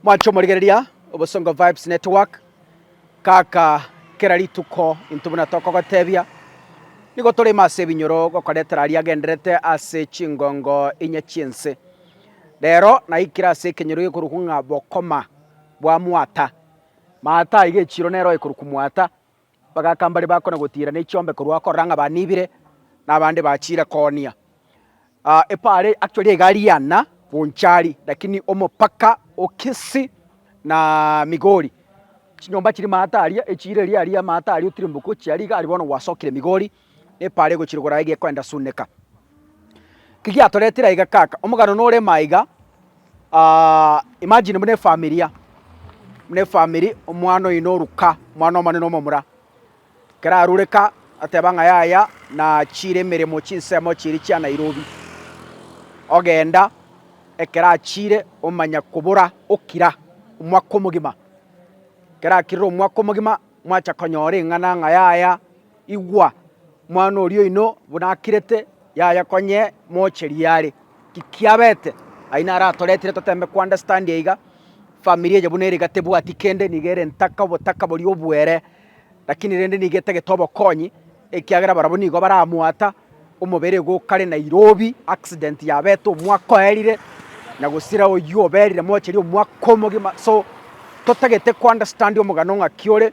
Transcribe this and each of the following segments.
Mwanche omorigereria obosongo vibes network kaka kera rituko intwe buna tokogotebia nigo tore ime ase ebinyoro gokoretera aria agenderete ase chingongo inye chi'ense rero naikire ase ekenyoro gekorokwa ng'a bokoma bwa mwata maata iga echiro nero ekorokwa mwata Bagaaka mbaria bakona gotiira ne chiombe korwa korora ng'a baniibire, na abande bachiire koonia. Epaari actually egari y'Anna Bonchari lakini omopaka o Kisii na Migori. Chinyomba chiri maate aria, echiira eria aria maate aria otirimboka ochia aria iga aria bono gwasokire Migori. Epaara egochirigora aiga ekwenda suneka. Ki giatoretire aiga kaka? Omogano nore ime aiga, imagine buna efamilia, buna efamiri omwana oino oruka, omwana omonene omomura, ekero arure ka ateba ng'a yaya nachiire emeremo chinsemo chiiri chia Nairobi. Ogenda ekero achiire omanya kobora okira omwaka omogima. Ekero akirire omwaka omogima mwacha konyora eng'ana ng'a yaya. Igwa! Omwana oria oino buna akirete, yaya konya mocheria are. Tikiabete, aye naro atoretire totembe kounderstand iga. Family eye buna ere iga tebwati kende, niga ere ntaka, obotaka boria obuere, lakini rende niga etagete obokonyi, ekiagera barabwo nigo baramwata, omobere igo okare na irobi, accident yabete omwaka oerire, na gosira oyio oberire mocheria omwaka omogima. So, totagete kounderstand omogano ng'aki ore,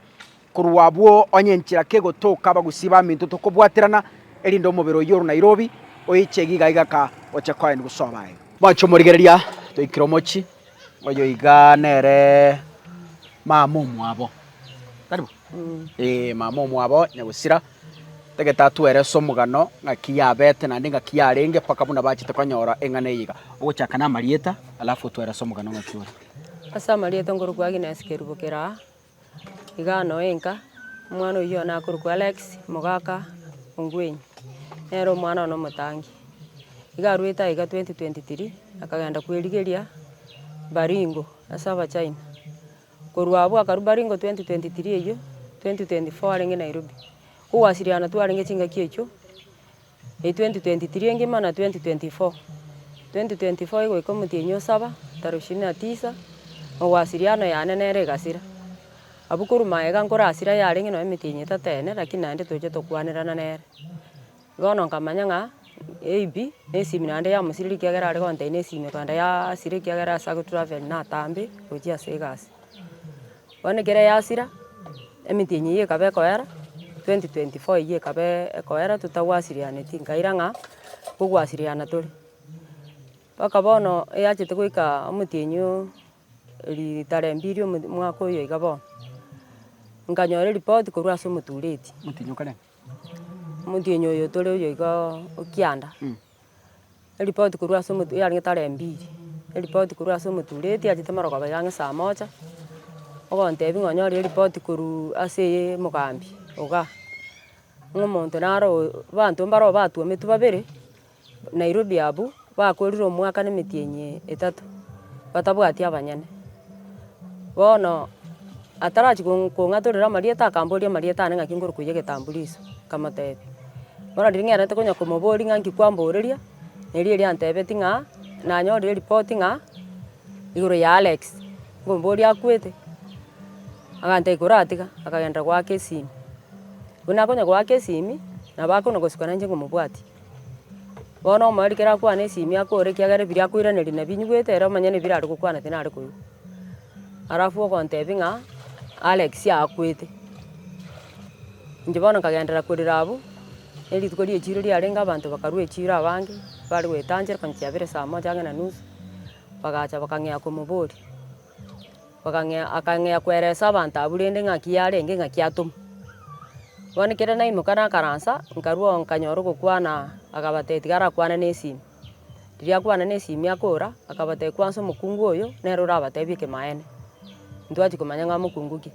Korwa abwo onye enchera kegotoka abagusii baminto tokobwaterana, erinde omobere oyio ore Nairobi oichege iga iga ka oche koen gose obe aye. Bwancha omorigereria toikire omochie, oyo iga nere mama omwabo, tari bo? Ee, mama omwabo nyagosira. Tagete atwere ase omogano ng'aki yabete naende ng'aki yarenge mpaka buna bachete konyora eng'ana eye iga. Ogochaka namarieta alafu otwere ase omogano ng'aki ore. Ase amarieta nkorokwa Agnes Kerubo Keraa. Igano enka, omwana oyio nakorokwa Alex, omogaka o Ngwenyi, nere omwana one omotangi. Iga arwete aiga twenty twenty three, akagenda kwerigeria Baringo ase Abachina. Korwa abwo akarwa Baringo twenty twenty three eyio, twenty twenty four arenge Nairobi. Kogwasiriana twarenge chingaki echio. Ei 2023 engima na 2024. 2024 igoika omotienyi osaba, tara ishirini na tisa, Mogwasiri ano yane nere egasira. Abwo korwa magega nkore asira yarenge nonya emetienyi etato ene lakini naende toche tokwanerana nere. Bono nkamanya ng'a maybe nesimi naende yamosireri ekiagera are gontai nesimi korende ya asira ekiagera ase agotravel natambe gochia ase egasi. Bono ekero yasira, emiti eye ekaba ekoera, 2024 eyio ekaba ekoera totagwasirianeti nkaira ng'a kogwasiriana tore. Mpaka bono eyachete goika omotienyi enyio ritare mbiri omwaka oyo iga bono, nkanyora eripoti korwa ase omotureti, omotienyi oyo tore oyo iga o kianda. Eripoti korwa ase omotu yarenge tara mbiri, eripoti korwa ase omotureti achete moro kobeira ang'e saa moja, ogontebia ng'a onyore eripoti korwa ase eye mogambi igaa, ng'a omonto naro oo abanto mbaro batwometwe babere Nairobi abwo, bakorire omwaka na emetienyi etato batabwati abanyene. Bono atarachia kong'atorera amarieta akamboria amarieta aane ng'aki nkorukoiye egetambulisho, nkamotebia. Bono riria ng'erete konya komoboria ng'a nki kwamboreria, erio erio antebetie ng'a nanyorire ripoti ng'a igoro ya Alex, nkomoboria akwete, agantebia ikoratiga, akagenderera goaka esimi. Buna akonya goaka esimi, nabo akona gosuka nainche nkomobwatia. Bono omorwari kera akwane esimi akore ekiagera ebiria akoiraneria nabio inyigwete ere omanye na ebiria are gokwana tinare koigwa. Alafu ogontebia ng'a Alex akwete. Inche bono nkagenderera korera abwo, ne rituko rie echiro riarenge abanto bakarwa echiro abange bare goetanchera konya chiabere, saa moja ang'e na nusu, bagacha bakang'ea komoboria. Bakang'ea, akang'ea koeresa abanto abwo rende ng'aki yarenge ng'aki atomwa. Bono ekero naimoka nakaransa, nkarwa oo nkanyora ogokwana, akabatebia tiga arakwane na esimi. Riria akwana na esimi akora, akabatebia kwansa omokungu oyo, nere orabatebie ekemaene. Intwe twachia komanya ng'a mokungu ki.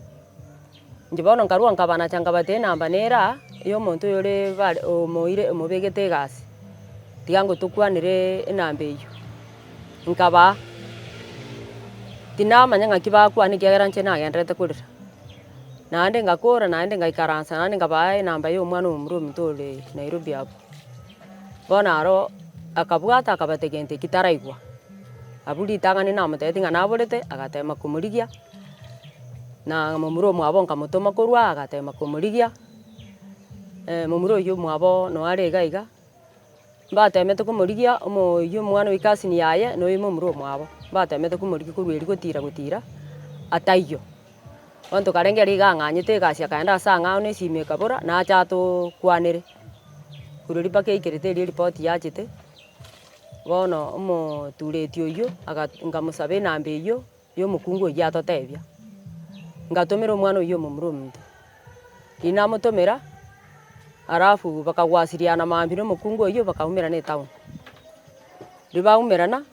Inche bono nkarua nkabanacha nkabata enamba nere aa, ya omonto oyore bare omoire omobegete egasi, tiga ngo tokwanere enamba eyio, nkabaa. Tinamanya ng'aki bakwana ekiagera inche nagendererete korera, naende ngakora naende ngaikaransa naende nkabaa enamba ya omwana omomura ominto ore Nairobi abwo. Bono aro akabwata akabata egento ekio taraigwa, abwo ritang'ani namotebitie ng'a naborete, agatema komorigia. Na momura omwabo nkamotoma korwa aa agateema komorigia, momura oyio omwabo noyo are iga iga, mbateemete komorigia oyio omwana o cousin yaye na oyio momura omwabo, mbateemete komorigia korwa erio gotira gotira aa taiyo. Bono tokarenge ere iga ang'anyete egasi akaenda ase ang'ao na esimo ekabora nache atokwanere, korwa erio mpaka eikerete erio eripoti yachete, bono omotureti oyio aga nkamosaba enamba eyio. Y'omokungu oyio atotebia, Ngatomera omwana oyio omomura ominto. Riria namotomera, alafu bakagwasiriana maambia na omokungu oyio bakaumerana etown. Riria baumerana,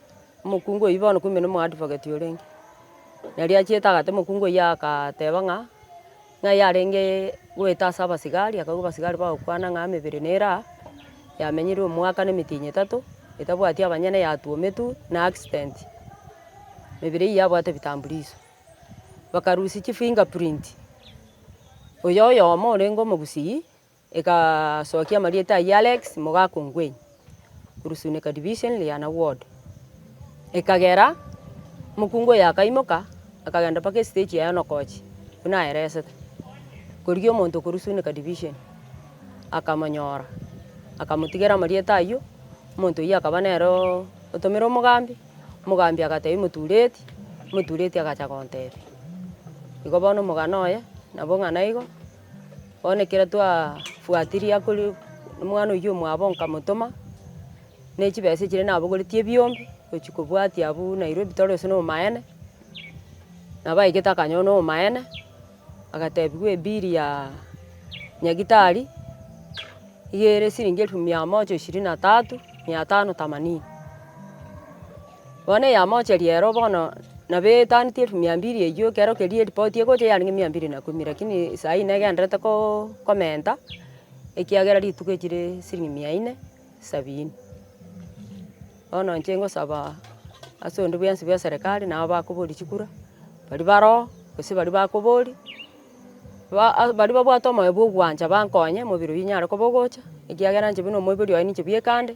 omokungu oyio bono kumbe nomo advocate orenge. Nari achiete agate omokungu oyio agateba ng'a Ng'a yarenge goeta ase abasigari, akaigwa abasigari bagokwana ng'a emebere nere aa, yamenyire omwaka na emitinyi etato, etabwati abanyene yatuometwe na accident, emebere eyio yabwate vitambulisho. Bakarusia chifinger print, oyo oyomo orenge omogusii, Egasokia amarieta ayio Alex Mogaka Ongwenyi, Rusunika Division, Liana Ward. Ekagera omokungu oyo akaimoka akagenda mpaka estage ya Enokochi buna aeresete. Korigia omonto okorwa Rusunika Division akamonyora akamotigera amarieta ayio, omonto oyio akaba nere otomire omogambi, omogambi agatebia motureti, motureti agacha gontebia. Igo bono omogano oye nabo ng'a naigo. Bono ekero twafuatirie akore omwana oyio omwabo nkamotoma ne chibesa echiria nabogoretie ebiombe gochia kobwatia abwo Nairobi toro ase na omaene, nabo aigete akanyora na omaene, agatebiwa ebill ya nyagitari nigo ere siringi elfu mia moja ishirini na tatu mia tano themanini. Bono eyamocheria ero bono nabo etaneti elfu mia mbiri eyio, ekero keria eripoti egocha eyare ng'a mia mbiri na ikomi, lakini saa hii negendererete komenta ekiagera rituko echio chire siringi mia ine sabini. Bono inche ngosaba ase onde bwensi bwa eserekari nabo bakoboria chikura, baria bare oo gose baria bakoboria. Baria babwate omoyo bw'ogwancha bankonye, omobere oyio inyare koba ogocha, ekiagera inche buna omoibori oye ninche bweka ande,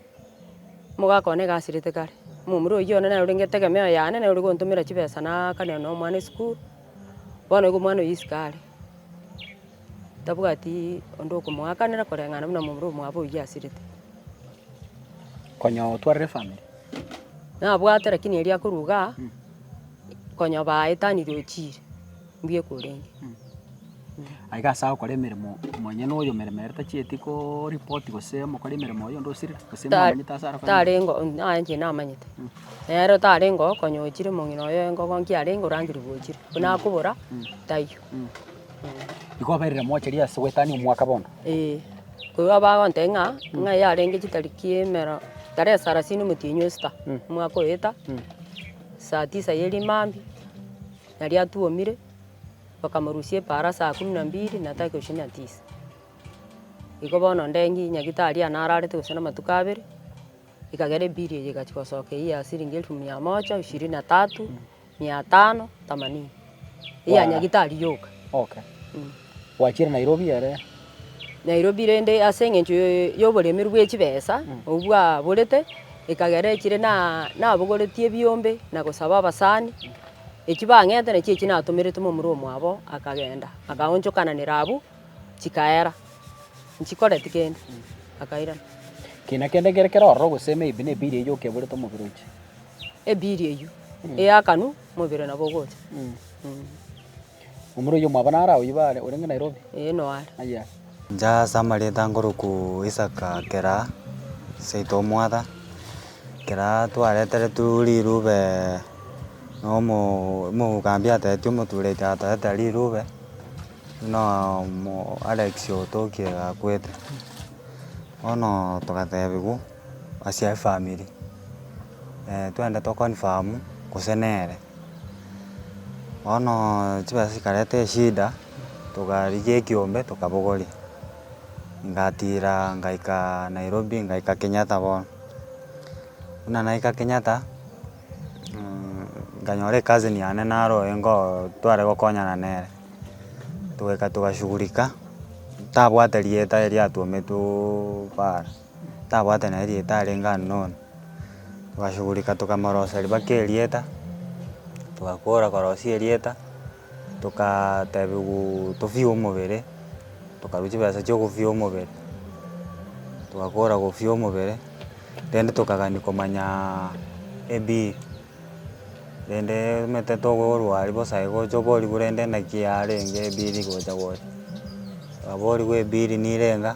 mogakone egasirete kare. Omomura oyio one nere orenge etegemeo yane, nere origontomera chibesa naakania na omwana esukuru, bono igo omwana oyio isiko are, tabwati onde okomoakanera koreng'ana buna omomura omwabo oyio asirete. Konya otwarire efamiri? Nabwate lakini erio akorwa igaa, konya baetanirie ochiire. mbuya korenge. Aiga ase agokora emeremo monyene na oyomeremerete tachieti ko report gose mokore emeremo oye onde osire gose mwamanyete ase are konyora. Tarengo aye inche namanyete. Nero tarengo okonya ochire omong'ina oye engogo nki arenge orangeriwu ochire. Buna akobora taiyo. Igo oberire mocheria ase goetania omwaka bono. Eeh. Korwa bagonte ng'a ng'a eye arenge chitariki emero tarehe sarasini omotienyi osita omwaka oeta saa tisa ye rimambia. na riatuomire, bakamorusia epaara saa kumi na mbili na tari koshinia tisa. Igo bono nde ng'ii nyagitari ane ararete gose namatuko abere, ekagera ebill eye egachia gosoka eywo ya siringi elfu mia moja ishirini na tatu, mia tano, themanini, eya nyagitari yoka. Gwachire Nairobi ere. Nairobi rende ase eng'encho y'oboremeru bwe chibesa obwo bwaborete ekagera echire na nabogoretie ebiombe na gosaba abasani echio bang'ete nachio echio natomerete momura omwabo akagenda akaonchokananera abwo chikaera nchikoreti kende akairana. Kina kende kere kero ororo gose maybe ne bill eywo okeburete omobere oche. Ebill eywo eyakanu mobere nabo ogocha. Omura oyio mwaba naro agwo iba are, orenge Nairobi? Ee noare. Aye are. Inche ase amareta ngoroku Isaka kera seito omwatha, kera twareteretu rirube nomo omogambi atetetie omotureti atorete rirube, buna omo Alex otokie gakwete, bono togatebigwa. ase efamiri, twende to confirm gose nere. Bono chibesa chikareta eshida, togarigia ekiombe tokabogoria, ngatira ngaika nairobi ngaika kenyatta bono. Buna naika kenyatta, nkanyora ecousin yane nare oyo nkoo tware gokonyana nere, togaika togashughulika, ntabwate rieta erio atwometwoo paara. tabwate na erieta arenge unknown, togashughulika tokamorosia riba kera erieta, togakora korosia erieta, tokaa tebiwaaa tofee omobere, tokarwa chibesa chia ogofee omobere, togakora gofee omobere, rende tokagani komanyaa ebiiri, rendeee omanyete togorwa aria bosa aye gocha oborigwe rende naki yarenge ebiiri gocha gocha, twaborigwa ebiiri nirenga.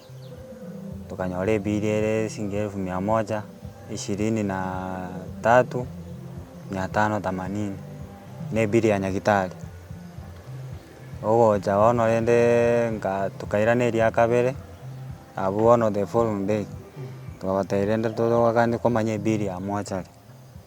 tokanyora ebiiri ere shilingi elfu mia moja ishirini na tatu mia tano themanini, na ebiiri ya nyagetari. Ogocha bono rende nka tokairana eria kabere, abwo bono the following day, togoteba rende totogokani komanya ebiiri ya mochari.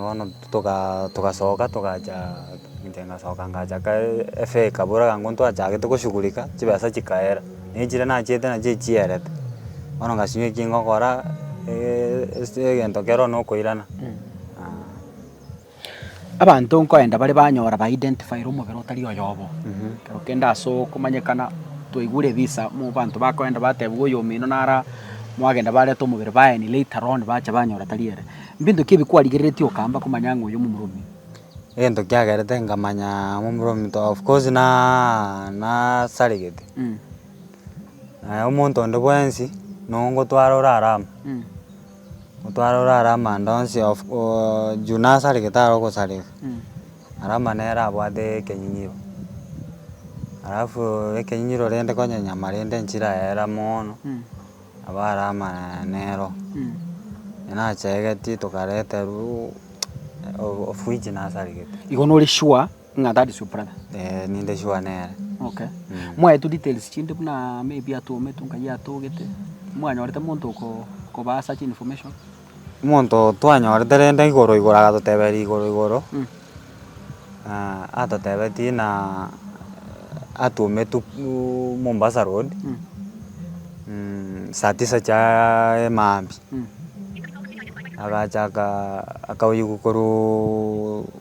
bono toga togasoka togacha inche ngasoka ngacha kae efee ekabora iga intwe twachagete koshughulika chibesa chikaera, na echire nachiete nachio echierete, bono ngasinywa eki ngokora egento kero nokoirana. Abanto nkoenda bare banyora ba identify-re omobere otari oyobo. Ekero kende ase okomanyekana twaigure ebisa mu banto bakoenda batebigwe oyo omino naro mwagenda bareta omobere baeni later on bacha banyora tari ere. Mbinto ki ebi kwarigereretie okamba komanya ng'a oyo momoromi? Egento kiagerete nkamanya momoromi to of course na nasaregete. Omonto onde bwensi nongotwara orare amo. Otware ore are amanda onsi of juu nasareke tare ogosareka, are amanda nere abwate ekenyinyiro, alafu ekenyinyiro rende konya enyama rende nchire ayera moono, nabo are amanda nero, nachegetie tokareterwa o- ofridge nasaregete. Igo nore sure. Ng'a that is your brother? Eh, ninde sure nere. Okay. Mm. Mwaetu details chinde buna maybe atometwe nkayi atogete. Mwanyorete monto oko koba such information? Monto twanyorete rende igoro igoro agatoteberia igoro igoro. Mm. Ah, atotebetie na atometwe uh, Mombasa Road. Mm. Mm, saa tisa cha emaambi. Mm. Agacha aka akaoyigwa korwa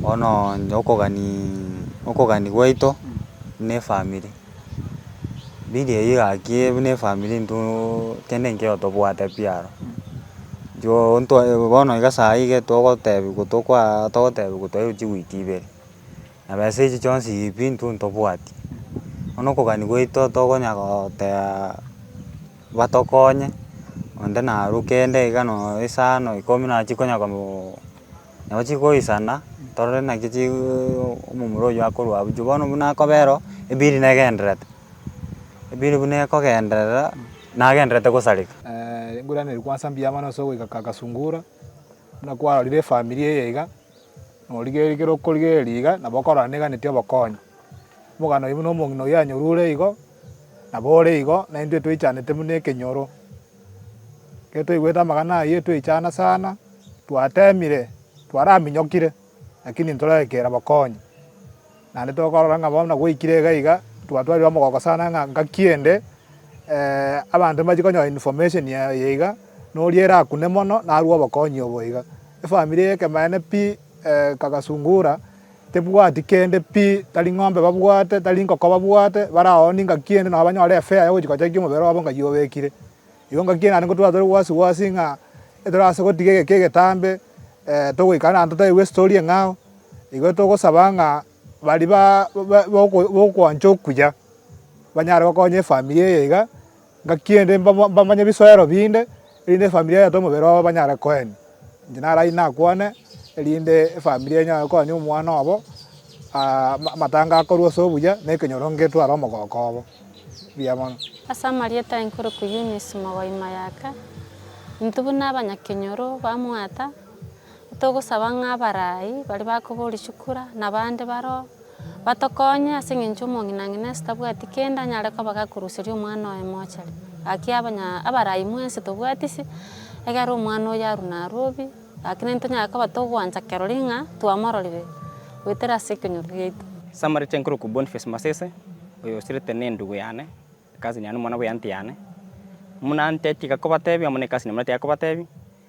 Bono onye okogani okogani gwaito ne efamiri, mbiri eyio egakiire buna efamiri intwe kende nkeiyo tobwate pi aro. Intwe intwe bono iga saii iga togotebiwa tokwaa togotebiwa twairwe chigwiti ibere. Nabesa echi chionsi pi intwe ntobwati, bono okogania gwaito tokonya gotebaa batokonye, onde naruke endagika nooo esaa noyo ikomi nabo chikonya kobuu nabo chikoisana torore naki chiiuu omomura oywo akorwa abwo juu bono buna akobera oo ebiri negendererete, ebiri buna ekogenderera nagendererete gosareka. Engurana eria kwansa mbuya mono ase ogoika Kasungura, buna kwarorire efamiri eye iga. Norigerie kere okorigereria iga, nabo okorora neganeti obokonyi. Omoganda oye buna omong'ina oyio anyorure igo, nabo ore igo, naintwe toichanete buna ekenyoro. Ekero twaigwete amang'ana ayio twaichana sana, twatemire, twaraminyokire, lakini ntoraekeire bokonyi. Naende tokorora ng'a bono nagoikire iga iga, twatwarire omogoko sana ng'a ngaki ende abanto mbachie konyora information eye iga, na oria erakune mono narue obokonyi obo iga. Efamiri eye ekemanene pi kagasungura, tebwati kende pi, tari ng'ombe babwate, tari nkoko babwate, bare ao ningaki ende nabo banyore efea ya gochi gochakia omobere obo ng'ai obekire. Igo ngaki naende ngotwara tore gwasi gwasi ng'a ekero ase gotiga egeka egetambe togoikara naende totebiwe estori eng'ao, igo togosaba ng'a baria ba ba bokwancha okuya banyare gokonya efamiri eye iga, ngaki ende mbamanye bisoero binde, erinde efamiri eyete omobere obo banyare koenia. Inche narache nakwane erinde efamiri enyare konya omwana obo amatanga akorwe ase obuya na ekenyoro ngetware omogoko obo. Mbuya mono. Ase amarieta aye nkorokwa Eunice Mogoi Mayaka, intwe buna abanyakenyoro bamwata, togosaba ng'a abarai baria bakoba orishikura na abande bare oo. Batokonye, ase engencho omong'inang'ina ase tabwati kende anyare koba gakoruseria omwana oye mochari. Gaki abanya abarai mwensi tobwati se, egera omwana oyo aru naru obi, gaki naintwe tonyare koba togwancha kerori ng'a twamororire goetera ase ekenyoro giaito. Samarita enkorokwa Boniface Masese, oyo osirete ne endugu yane, cousin yane, omwana bw'eanty yane. Muna anty tiga kobatebi amo ne cousin muna tiga kobatebi.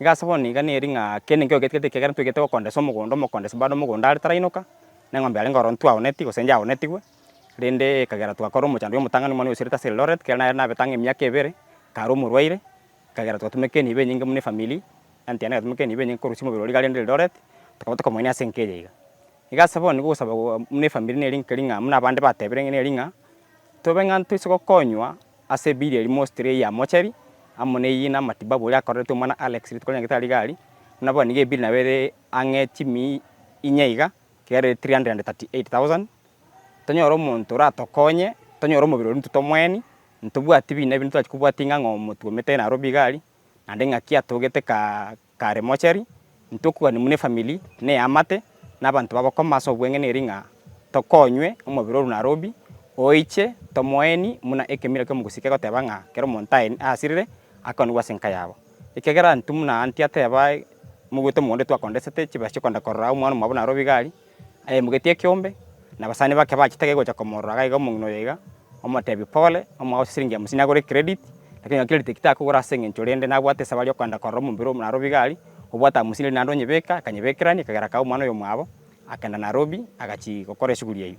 Iga ase bono niga neri ng'a kende nkeiyo getagete ekiagera ntwegete gokondesa omogondo, omokondesi bado omogondo are tarainoka, na eng'ombe yarenge ororo intwe aoneti gose inche aonetigwe, rende ekagera twakora omocando bwa omotang'ani omwane oyoserete ase Eldoret, kere nare nabete ang'e emiaka ebere, kare omorwaire, ekagera twatumeka enibo enyinge buna efamiri, aunty yane egatumeka enibo enyinge korusia omobere oria iga arende Eldoret, tokaba tokomoenia ase enka eyeiga. Iga ase bono nigo ogosaba buna efamiri neri nkeri ng'a buna abande batebire neri ng'a tobe ng'a ntoise gokonywa. Ase ebiiri eria mostri eyio ya mochari, amo neyio na matibabu oria akorerete omwana Alex rituko rinyagete ariga aria, buna bono nigo ebiiri nabo ere ang'e chimi inye iga, kegera ere 338,000. Tonyore omonto oratokonye, tonyore omobere oria intwe tomoeni, ntobwati bina ebinto torachi kobwati ng'a ng'a omotwe omete narobwo iga aria, naende ng'aki atogete ka. Kare mochari, intokwane buna efamili, neamate, nabanto babokoma ase obweng'ene eri ng'a tokonywe omobere o Runarobi, oiche tomoeni buna ekemira ki'omogusii kegoteba ng'a kera omonto aye asirire, akonigwe ase enka yabo. Ekiagera intwe buna Antia teba mogwete omogondo twakondesete chibesa chikogenda korora omwana omwabo Narobi gari, Ayemogetie ekeombe, na abasani bake bachitege gocha komorora agaiga omong'ina oyo iga, omotebi, Pole, omogaka o chisiringi hamsini agore credit, lakini onye credit ekitakogora ase eng'encho rende nabwate esabari yokoenda korora omobere oo Narobi iga aria, obwate hamsini eria naende onyebeka, akanyebekerania, ekagera akae omwana oyo omwabo, akagenda Narobi, agachia gokora eshughuli eyio.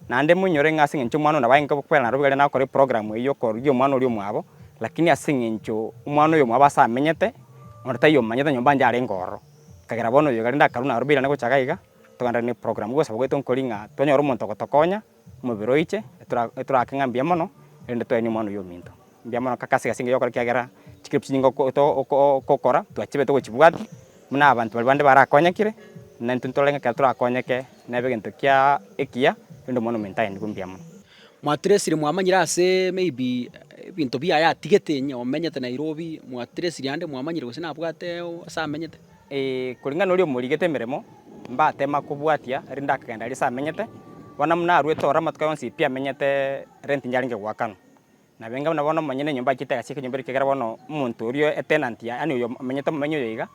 Naende moinyore ng'a ase engencho omwana oyo nabo agenge gokwera na roberia nagokora eprogramu eyio y'okoorokia omwana oria omwabo, lakini ase engencho omwana oyo omwabo ase amenyete, onde taiyo omanyete nyomba yonye arenge ororo. Ekagera bono oyo gende akarwa na roberia ane gocha iga iga, togenderere na eprogramu gosaba gwaito nkori ng'a twanyore omonto ogotokonya, omobere oiche, etora etoraake ng'a mbuya mono, erinde twaenie omwana oyio ominto. Mbuya mono kakase ase engencho y'okora ekiagera chikero chinyinga okokora twachibete ogochibwati buna abanto baria bande barakonyekire na intwe ntorore ng'a ekero torakonyeke nebe egento kia ekiya rende omwana omonto aye nigwe mbuya mono. Mwatiresire mwamanyire ase maybe ebinto bia ayatigete onye omenyete Nairobi mwatiresiri ande mwamanyire gose nabwate ase amenyete? Ee kuringana noria omorigete emeremo mbatema kobwatia rinde akagenda aria ase amenyete bono buna arwete ororo amatuko yonsi pi amenyete rent yarenge goakana Nabenga buna bono monyene enyomba achiete agachia ekenyomba eria ekiagera bono omonto oria etenanti yaye, yaani oyo omenyete omomenyi oyo iga,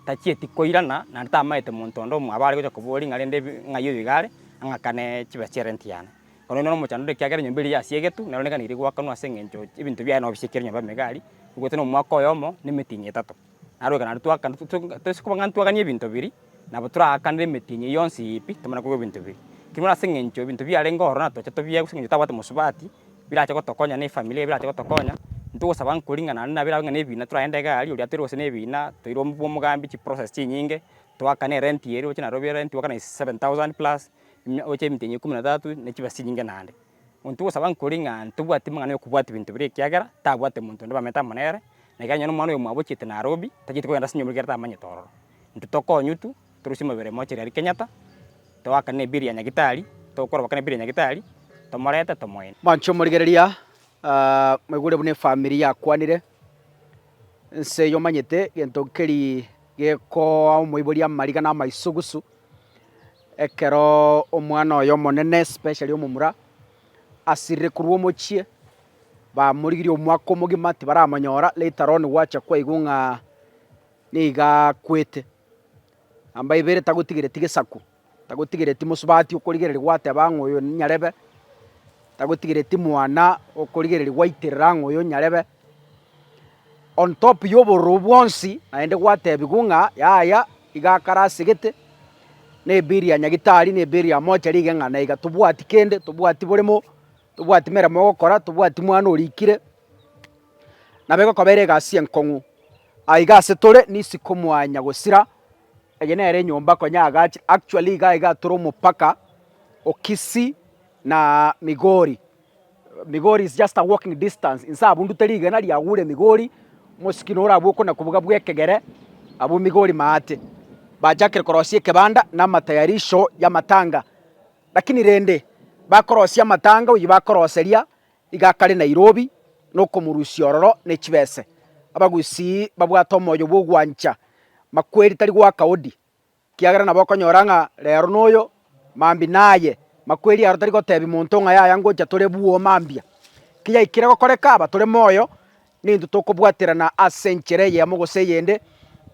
tachieti koirana naende tamaete monto onde omoaba are gocha koboria ng'a rende ng'ai oyo iga are, ang'akane chibesa chia renti yane. Korende nonya omochando ore ekiagera enyomba eria yasiegetwe, nero niga nere egoakanwa ase eng'encho ebinto biaye nabo bisiekire enyomba megari, ogote nomwaka oyomo na emetinyi etato. Naro ekero nario twakana toise koba ng'a ntwaganie ebinto biria, nabo toraakanere emetienyi eyio yonsi yipi tomana kogwa ebinto biria. Kera ase eng'encho ebinto biarenge ororo natoche tobiegwe ase eng'encho tabwate mosubati, birache gotokonya na efamiri eye birache gotokonya, ntogosaba nkori ng'a naende nabo erabe ng'a nebina toragende iga aria oria atoire gose nebina, toire omobua omogambi chiprocess chinyinge, twakane erenti eria oroche nairobi erenti ogokana seven thousand plus, oche emetienyi ekuminatatu, ne chibesa chinyinge naende. Monto ogosaba nkori ng'a ntobwati mang'ana y'okobwati binto biria ekiagera tabwate monto onde bamanyete amo nere, na ekiagera onye nomwana oyomwabo ochiete naro obi, tacheti kogenda ase enyomba ekero tamanyete ororo. Intwe tokonywa intwe, torusie amabera aye mochie riria ria Kenyatta, toakane nebiri ya nyagitari, tokoroba kane nebiri ya nyagitari, tomorete tomoine. Manche omorigereria, moigure buna efamiri yakwanire, ense eye omanyete egento keria gekoa omoibori amariga na amaisugusu. Ekero omwana oye omonene, especially omomura, asirire korwa omochie, bamorigirie omwaka omogima tibaramonyora, later on gwacha kwaigwa ng'a niga akwete. Namba ibere tagotigereti gesaku, tagotigereti mosubati okorigereria gwateba ng'a oyo ninyarebe, tagotigereti mwana okorigereria gwaiterera ng'a oyo nyarebe. on top y'obororo bwonsi, naende gwatebigwa ng'a yaya iga akare ase egete, na eberi ya Nyagitari, na eberi ya mochari iga eng'ana iga. Tobwati kende, tobwati boremo, tobwati meremo ya gokora, tobwati mwana orikire, nabo egokoba ere egasi enkong'u. Aiga ase tore nisi komwanya gosira, eye nere enyomba konya yagache, actually iga iga tore omopaka o Kisii na Migori. Migori is just a walking distance, inse abwo ndute rigena riagure Migori, mosikino ore abwo okona kobuga bw'ekegere, abwo Migori maate. Bachakire korosia ekebanda na amatayarisho y'amatanga. Lakini rende bakorosia amatanga oyio bakoroseria iga akare Nairobi na okomorusia ororo ne chibese. Abagusii babwate omoyo bw'ogwancha makweri tari goaka odi. Ekiagera nabo okonyora ng'a reero noyo mambia naye, makweri aro tari gotebia monto ng'a yaya ngocha tore buo mambia. Kiyaikire gokoreka aba tore moyo, nintwe tokobwaterana ase enchera eyemo gose eyende,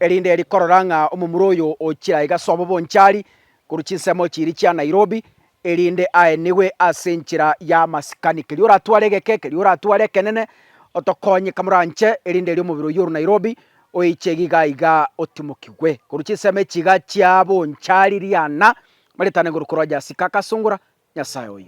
erinde eri korora ng'a omomura oyo ochire aiga ase obobonchari korwa chinsemo chiiri chia Nairobi, erinde aenigwe ase enchera y'amasikani. Keria oratware egeke, keria oratware ekenene, otokonye kamoranche, erinde erio omobere oyio ore Nairobi oiche iga iga otimokigwe. Korwa chinsemo echi iga chiaboncharirie ana, baretane igoro korwa Jasika, akasungora, Nyasae oyo.